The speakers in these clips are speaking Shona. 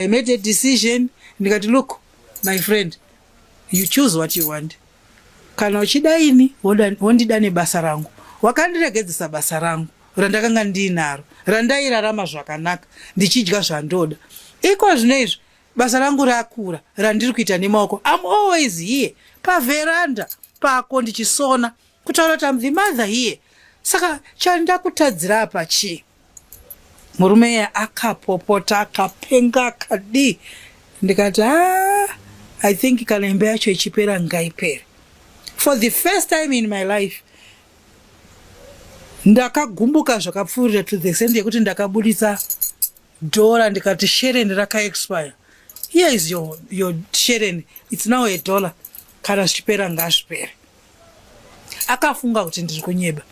I made a decision ndikati look my friend you choose what you want kana uchida ini wondida nebasa rangu wakandiregedzesa basa rangu randakanga ndiinaro randairarama zvakanaka ndichidya zvandoda iko zvino izvi basa rangu rakura randiri kuita nemaoko am always here pavheranda pako ndichisona kutaura kuti am the mother here saka chandakutadzira apa chii Murume iye akapopota akapenga akadii ndikati ah, i think kana imba yacho ichipera ngaipere for the first time in my life ndakagumbuka zvakapfuurira to the extent yekuti ndakabudisa dhora ndikati shereni rakaexpire here is your, your shereni its now a dollar kana zvichipera ngazvipere akafunga kuti ndiri kunyeba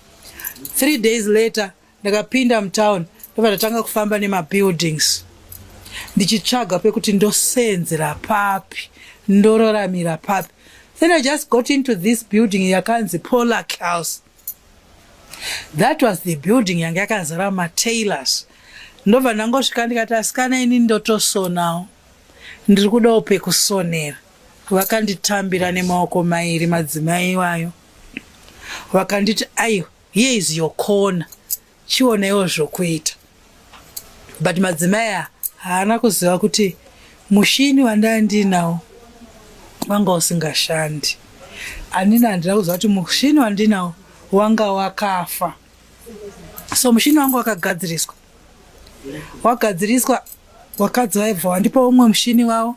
three days later Ndakapinda mutown ndobva ndatanga kufamba nemabuildings ndichitsvaga pekuti ndoseenzera papi ndororamira papi then i just got into this building yakanzi polac house that was the building yanga yakazara matailors ndobva ndangosvika ndikati asikana ini ndotosonawo ndiri kudawo pekusonera vakanditambira nemaoko mairi madzimai iwayo vakanditi aiwa Here is your corner. Chionewo zvokuita. But madzimai haana kuziva kuti mushini wandanga ndiinawo wanga usingashandi. Anina handina kuziva kuti mushini wandinawo wanga wakafa. So mushini wangu wakagadziriswa. Wagadziriswa wakadzi vaibva wandipa umwe mushini wavo.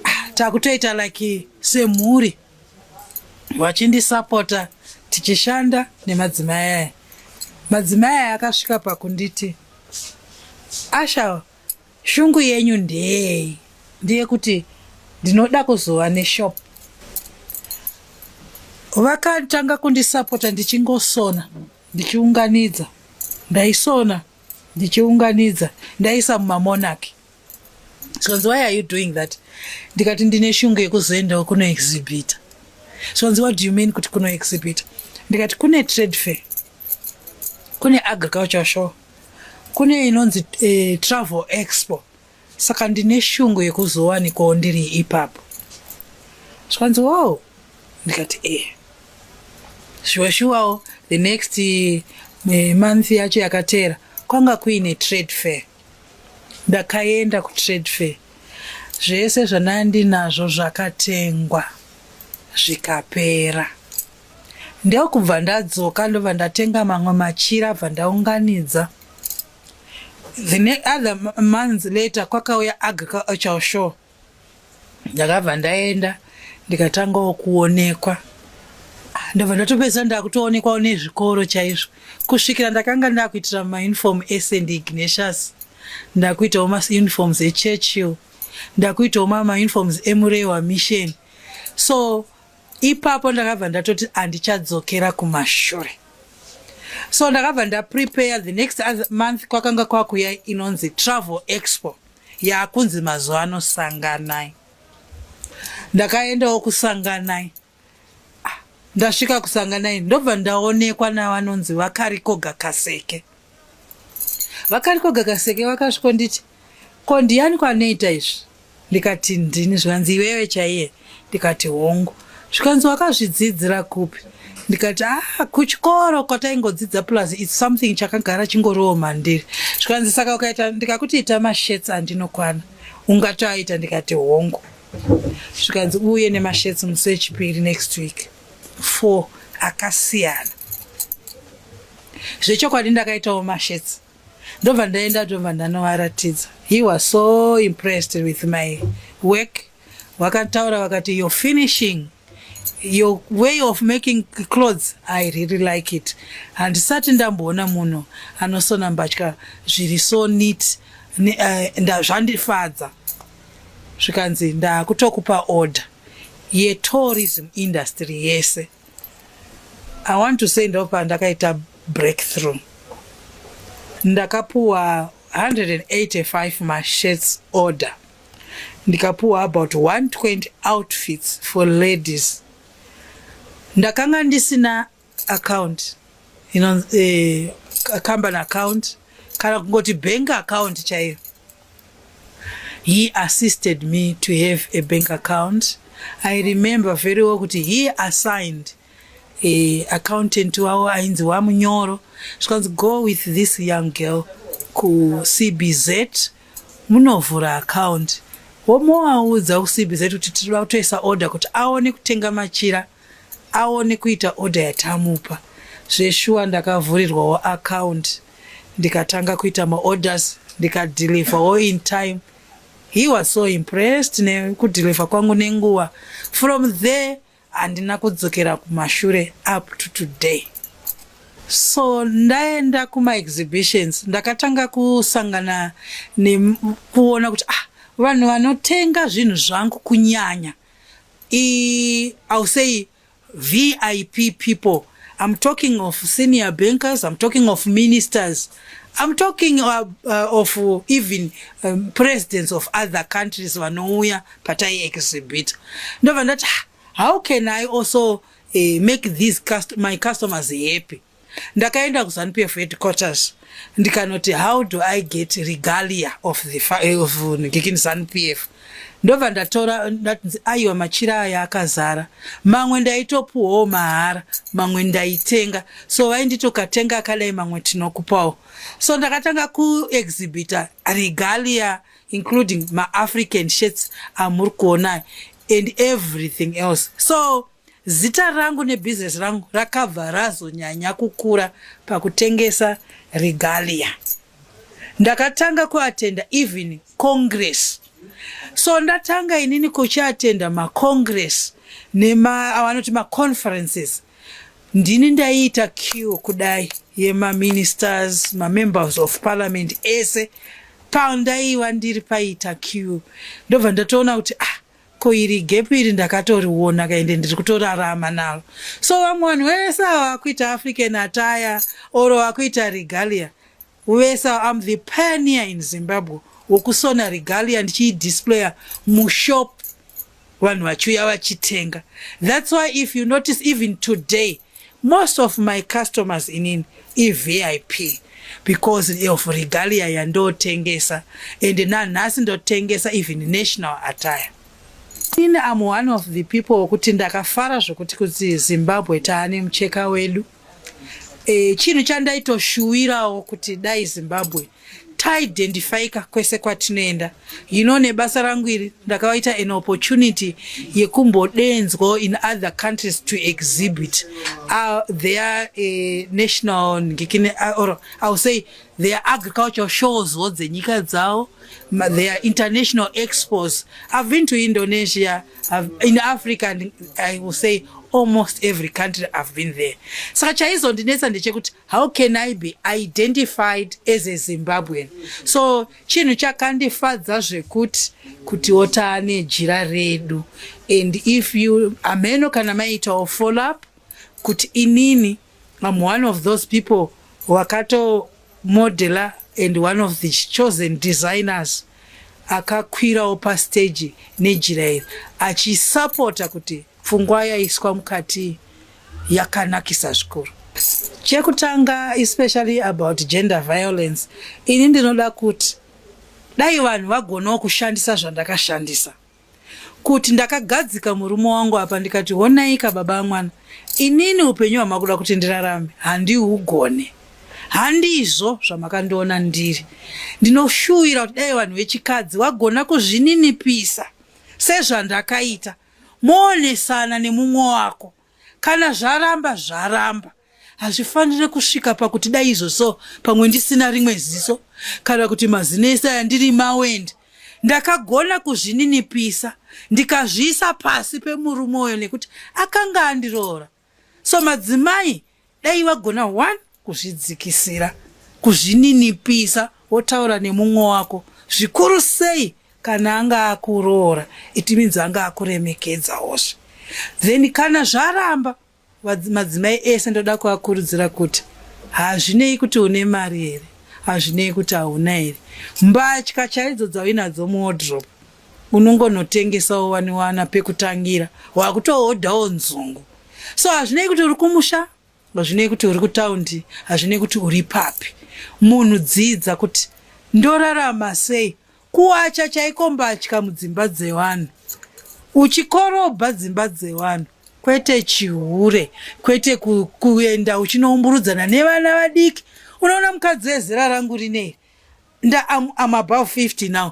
Ah, takutoita like semhuri. vachindisapota tichishanda nemadzimai aya madzimai aya akasvika pakunditi asha shungu yenyu ndeyei ndiye kuti ndinoda kuzova neshop vakatanga kundisapota ndichingosona ndichiunganidza ndaisona ndichiunganidza ndaisa mumamonaki zvikanzi why are you doing that ndikati ndine shungu yekuzoendawo kuno exhibita zvikanzi what do you mean kuti kuno exhibita ndikati kune trade fair kune agriculture show kune inonzi eh, travel expo saka ndine shungu yekuzowanikawo ndiri ipapo zvikanzi wow ndikati e eh. shuwa shuwawo the next eh, month yacho yakateera kwanga kuine trade fair Ndakaenda kutrade fair zvese zvandandinazvo zvakatengwa zvikapera ndokubva ndadzoka ndobva ndatenga mamwe machira bva ndaunganidza the other months later kwakauya agricultural show ndakabva ndaenda ndikatangawo kuonekwa ah, ndobva ndatopedza ndakutoonekwawo nezvikoro chaizvo kusvikira ndakanga ndakuitira mauniform esend ignatius ndakuitawo mauniforms echurchill ndakuitawo mauniforms emurewa mission so ipapo ndakabva ndatoti handichadzokera kumashure so ndakabva ndaprepare the next month kwakanga kwakuya inonzi travel expo yaakunzi mazuva ano sanganai ndakaendawo kusanganai ah, ndasvika kusanganai ndobva ndaonekwa navanonzi vakarikoga kaseke vakarikoga kaseke vakasvikonditi ko ndiyani kwanoita izvi ndikati ndini zvikanzi iwewe chaiye ndikati hongu zvikanzi wakazvidzidzira kupi ndikati ah kuchikoro kwataingodzidza plus its something chakagara chingoriwo mandiri zvikanzi saka ukaita ndikakuti ita mashets andinokwana ungatoaita ndikati hongu zvikanzi uye nemashets musi wechipiri next week four akasiyana zvechokwadi ndakaitawo mashets ndobva ndaenda tobva ndanovaratidza he was so impressed with my work Vakataura vakati your finishing your way of making clothes i really like it handisati ndamboona munhu anosona mbatya zviri so neat eh, zvandifadza zvikanzi ndakutokupa order yetourism industry yese i want to say ndopa ndakaita breakthrough ndakapuwa 185 mashirts order ndikapuwa about 120 outfits for ladies ndakanga ndisina account you know, eh, company account kana kungoti bank account chaiyo he assisted me to have a bank account i remember very well kuti he assigned eh, accountant wavo ainzi wamunyoro zvikanzi go with this young girl kucbz Munovhura account womovaudza kuCBZ kuti tiri kutoisa order kuti aone kutenga machira aone kuita order yatamupa. Zveshuwa ndakavhurirwawo account ndikatanga kuita maorders ndikadeliverwo in time. He was so impressed nekudeliver kwangu nenguva. From there handina kudzokera kumashure up to today so ndaenda kumaexhibitions ndakatanga kusangana nekuona kuti ah vanhu vanotenga zvinhu zvangu kunyanya iiu say vip people I'm talking of senior bankers, I'm talking of ministers. I'm talking uh, uh, of uh, even um, presidents of other countries vanouya patai exhibit ndobva ndati ah, how can i also uh, make these cust my customers happy ndakaenda kuzanupf headquarters ndikanoti how do i get regalia of the eh, of ndikini zanupf ndobva ndatora ndatinzi aiwa machira aya akazara mamwe ndaitopuwawo mahara mamwe ndaitenga so vainditokatenga akadai mamwe tinokupawo so ndakatanga kuexhibita regalia including maafrican shirts amuri kuonai and everything else so Zita rangu nebhizinesi rangu rakabva razonyanya kukura pakutengesa regalia. Ndakatanga kuatenda even congress. So ndatanga inini kuchiatenda macongress neavanoti maconferences. Ndini ndaiita queue kudai yemaministers, mamembers of parliament ese pandaiva ndiri paita queue. Ndobva ndatoona kuti ah, ko iri gap iri ndakatoriona ka ende ndiri kutorarama naro so vamwe vanhu vese ava vakuita african attire or vakuita regalia vese ava am the pioneer in zimbabwe wokusona regalia ndichiidisplaya mushop vanhu vachiuya vachitenga thats why if you notice even today Most of my customers inini iVIP because of regalia yandotengesa and nanhasi ndotengesa even national attire. Ini am one of the people wokuti ndakafara zvokuti kuti Zimbabwe taane mucheka wedu. E, chinhu chandaitoshuwirawo kuti dai Zimbabwe taidendifaika kwese kwatinoenda you know nebasa rangu iri ndakavaita an opportunity yekumbodenzwawo in other countries to exhibit uh, their uh, national ngikine uh, or iwill say their agricultural shows wo dzenyika dzavo their international expos i've been to indonesia I've, in africa and i will say almost every country i've been there saka chaizondinetsa ndechekuti how can i be identified as a zimbabwean so chinhu chakandifadza zvekuti kutiwo taane jira redu and if you ameno kana maitawo follow up kuti inini am one of those people wakato modeler and one of the chosen designers akakwirawo pastage nejira iri achisapota kuti Pfungwa yaiswa mukati yakanakisa zvikuru. Chekutanga especially about gender violence, ini ndinoda kuti dai vanhu vagonawo kushandisa zvandakashandisa kuti ndakagadzika murume wangu apa ndikati honaika baba amwana inini upenyu hwamakuda kuti ndirarame handiugone handizvo zvamakandiona ndiri ndinoshuvira kuti dai vanhu vechikadzi vagona kuzvininipisa sezvandakaita Moonesana nemumwe wako kana zvaramba zvaramba hazvifanire kusvika pakuti dai izvo so pamwe ndisina rimwe ziso kana kuti mazino ese aya ndiri mawendi ndakagona kuzvininipisa ndikazviisa pasi pemurume uyo nekuti akanga andiroora so madzimai dai vagona one kuzvidzikisira kuzvininipisa wotaura nemumwe wako zvikuru sei kana anga akuroora it means anga akuremekedzaozve then kana zvaramba madzimai ese ndoda kuvakurudzira kuti hazvinei kuti une mari here hazvinei kuti hauna here mbatya chaidzo dzauinadzo muodrop unongonotengesawo wani wana pekutangira wakutohodhawo nzungu so hazvinei kuti uri kumusha hazvinei kuti uri kutaundi hazvinei kuti uri papi munhu dzidza kuti ndorarama sei kuwacha chaiko mbatya mudzimba dzevanhu uchikorobha dzimba dzevanhu kwete chihure kwete ku, kuenda uchinoumburudzana nevana vadiki unoona mukadzi ezera rangu rinei nda am, am above 50 now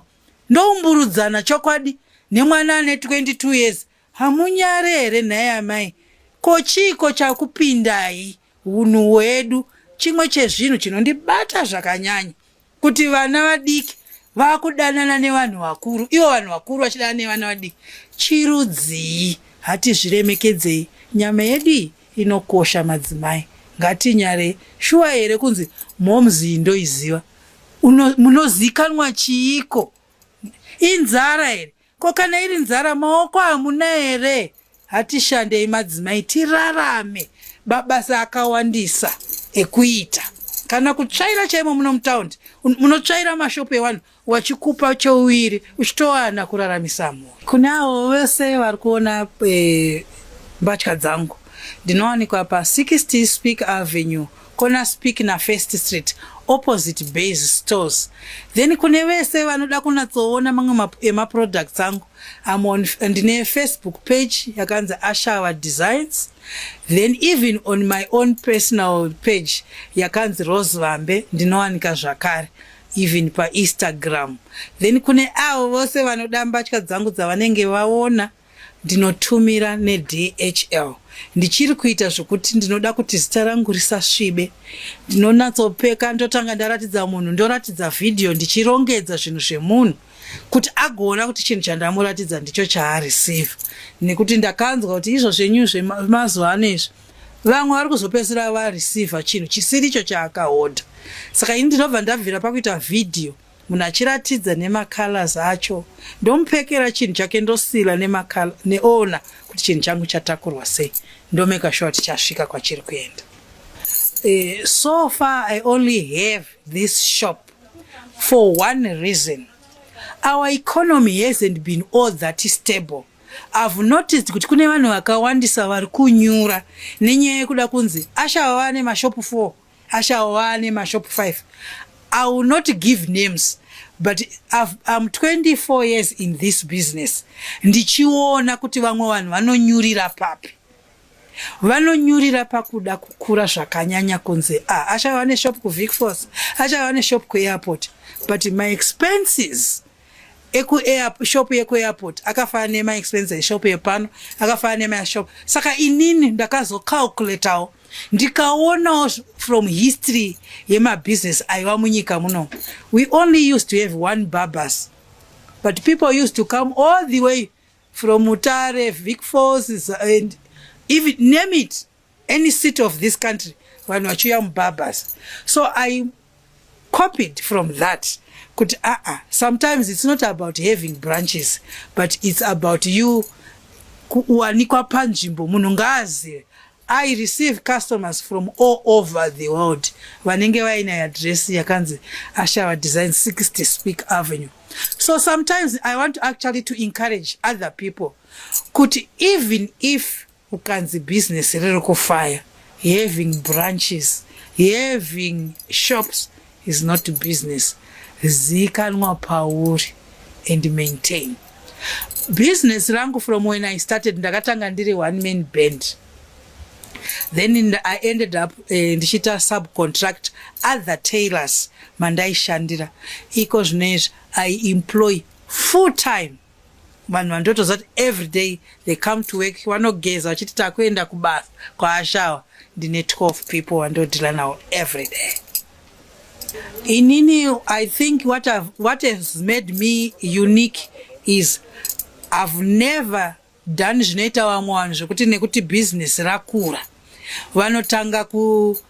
ndoumburudzana chokwadi nemwana ane 22 years hamunyare here nhai amai ko chiiko chakupindai hunhu hwedu chimwe chezvinhu chinondibata zvakanyanya kuti vana vadiki vakudanana nevanhu vakuru ivo vanhu vakuru vachidanana nevana vadiki chirudzii hatizviremekedzei nyama yedu iyi inokosha madzimai ngatinyare shuwa here kunzi momzii ndoiziva munozikanwa chiiko inzara here ko kana iri nzara maoko hamuna here hatishandei madzimai tirarame babasa akawandisa ekuita kana kutsvaira chaimo muno mutaundi munotsvaira mashopu evanhu wachikupa chouviri uchitowana kuraramisa mhuri kune avo vese vari kuona eh, mbatya dzangu ndinowanikwa pa 60 speak avenue corner speak na first street opposite base stores then kune vese vanoda kunatsoona mamwe emaproducts angu amon ndine facebook page yakanzi ashawa designs then even on my own personal page yakanzi rose vambe ndinowanika zvakare even painstagram then kune avo vose vanoda mbatya dzangu dzavanenge vaona ndinotumira neDHL ndichiri kuita zvokuti ndinoda kuti zita rangu risasvibe ndinonatsopeka ndotanga ndaratidza munhu ndoratidza vhidhiyo ndichirongedza zvinhu zvemunhu kuti agoona kuti chinhu chandamuratidza ndicho chaarisivha nekuti ndakanzwa kuti izvo zvenyu zvemazuva ano izvi vamwe vari kuzopedzisira varisivha chinhu chisiri icho chaakahodha saka ini ndinobva ndabvira pakuita vhidhiyo Munhu achiratidza nema colors acho ndomupekera chinhu chake ndosila nema color neona kuti chinhu changu chatakurwa sei ndomeka sure kuti chasvika kwachiri kuenda. Uh, so far I only have this shop for one reason our economy hasn't been all that stable I've noticed kuti kune vanhu vakawandisa vari kunyura nenyaya yekuda kunzi ashava vane mashopu 4 Ashawo wane mashop 5. I will not give names but I've, I'm 24 years in this business ndichiona kuti vamwe vanhu vanonyurira papi vanonyurira pakuda kukura zvakanyanya kunzi ah, achava neshop kuvicfos achava neshop kuairport but my expenses eku air shop yeku airport akafana nema expense eshop yepano akafana nema shop saka inini ndakazo calculatawo ndikaonawo from history yema business aiva munyika muno we only used to have one barbers but people used to come all the way from mutare vic falls and even name it any city of this country vanhu vachiuya mubabas so i copied from that kuti aa ah, ah, sometimes it's not about having branches but it's about you kuwanikwa panzvimbo munhu ngaazive i receive customers from all over the world vanenge vaine address yakanzi ashava design 60 speak avenue so sometimes i want to actually to encourage other people kuti even if Ukanzi business riri kufaya, having branches, having shops is not business. Ziikanwa pauri and maintain. Business rangu from when I started ndakatanga ndiri one man band. Then in the, I ended up uh, ndichiita subcontract other tailors mandaishandira. Iko zvino izvi I employ full time vanhu vandotoziva kuti everyday they come to work vanogeza vachiti takuenda kubasa kwaashawa ndine 12 people vandodhila nawo everyday inini i think what, have, what has made me unique is ihave never done zvinoita vamwe vanhu zvekuti nekuti business rakura vanotanga ku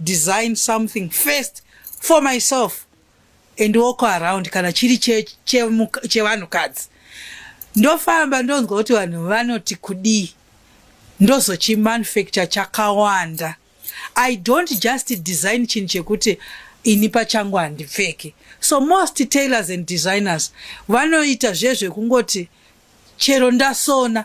design something first for myself and walk around kana chiri chevanhukadzi ndofamba ndonzwa kuti vanhu vanoti kudii ndozochimanufacture chakawanda i don't just design chinhu chekuti ini pachangu handipfeki so most tailors and designers vanoita zvezvekungoti chero ndasona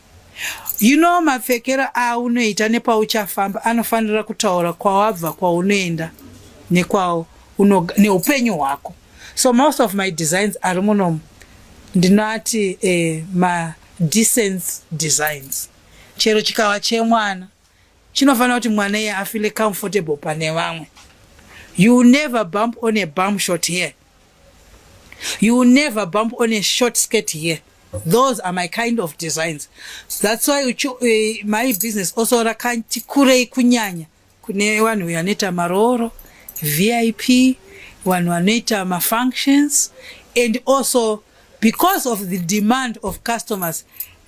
You know mapfekero aunoita nepauchafamba anofanira kutaura kwawabva kwaunoenda nekwawo neupenyu hwako so most of my designs ari munomu ndinati eh, ma decency designs chero chikava chemwana chinofanira kuti mwana iye afile comfortable pane vamwe you never bump on a bum shot here You will never bump on a short skirt here. Those are my kind of designs. That's why ucho, uh, eh, my business also rakanti kurei kunyanya kune vanhu vanoita marooro, VIP, vanhu vanoita mafunctions and also because of the demand of customers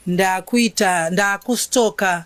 ndakuita ndakustoka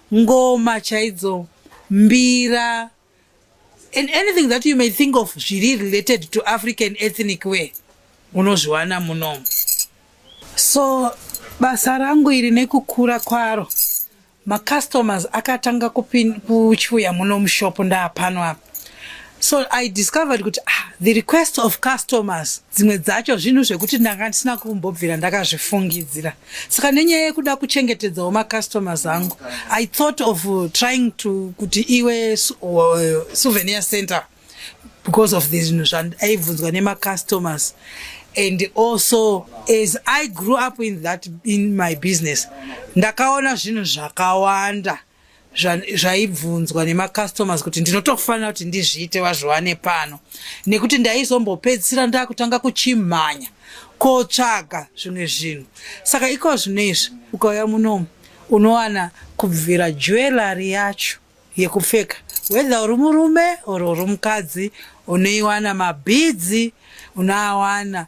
ngoma chaidzo mbira and anything that you may think of zviri related to african ethnic way unozviwana munomu so basa rangu iri nekukura kwaro macustomers akatanga kuchiuya muno mushop ndaapano apa so i discovered kuti ah, the request of customers dzimwe dzacho zvinhu zvekuti ndanga ndisina kumbobvira ndakazvifungidzira saka nenyaya yekuda kuchengetedzawo macustomers angu i thought of uh, trying to kuti iwe uh, souvenir center because of the zvinhu zvandaibvunzwa nemacustomers and also as i grew up in that in my business ndakaona zvinhu zvakawanda zvaibvunzwa nemacustomers kuti ndinotofanira kuti ndizviite wazviwane pano nekuti ndaizombopedzisira ndakutanga kuchimhanya kotsvaga zvimwe zvinhu saka iko zvino izvi ukauya munomu unowana kubvira jewelary yacho yekupfeka whether uri murume or uri mukadzi unoiwana mabhidzi unoawana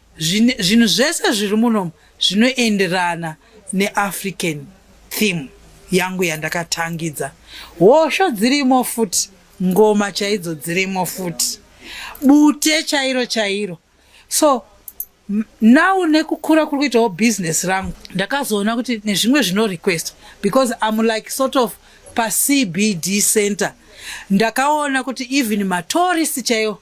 zvinhu zvese zviri munomu zvinoenderana neafrican theme yangu yandakatangidza hosho dzirimo futi ngoma chaidzo dzirimo futi bute chairo chairo so now nekukura kuri kuitawo business rangu ndakazoona kuti nezvimwe zvino request because im like sort of pacbd center ndakaona kuti even matourist chaiwo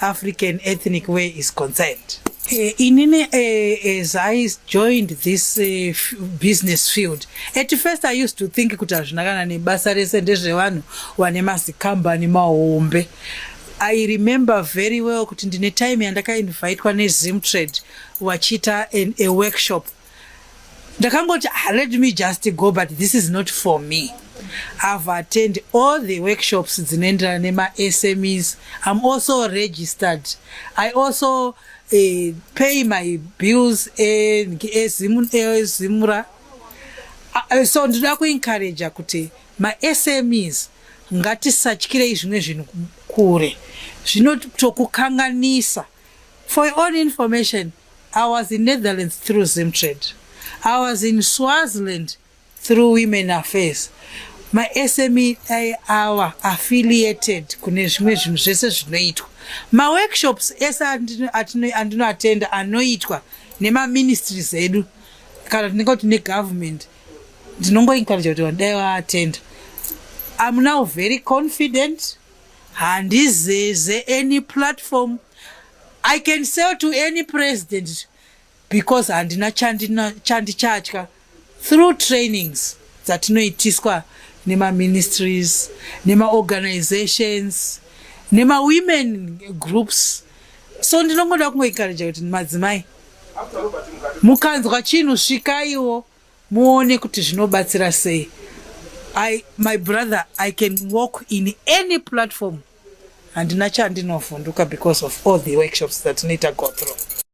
African ethnic way is concerned. Uh, inini uh, as I joined this uh, business field at first I used to think kuti hazvina kana nebasa rese ndezvevanhu vane mazikambani mahombe I remember very well kuti ndine time yandakainvitwa nezimtrade vachiita a workshop ndakangoti ah, let me just go but this is not for me i've attend all the workshops dzinoenderana nemasmes i'm also registered i also uh, pay my bills ezimura e, e, e, so ndinoda kuencouraja kuti masmes ngatisatyirei zvimwe zvinhu kure zvinotokukanganisa for your own information I was in Netherlands through Zimtrade. I was in Swaziland through Women Affairs. My SME awa affiliated kune zvimwe zvinhu zvese zvinoitwa. Ma workshops ese andinoatenda anoitwa nema ministries edu kana tinenge kuti ne government ndinongo encourage kuti wadai waattend. I'm now very confident handizeze any platform I can sell to any president because handina chandichatya through trainings dzatinoitiswa nemaministries nemaorganizations nemawomen groups so ndinongoda kungoencouraja kuti madzimai mukanzwa chinhu svikaiwo muone kuti zvinobatsira sei my brother i can walk in any platform handina chandinovhunduka because of all the workshops dzatinoita go through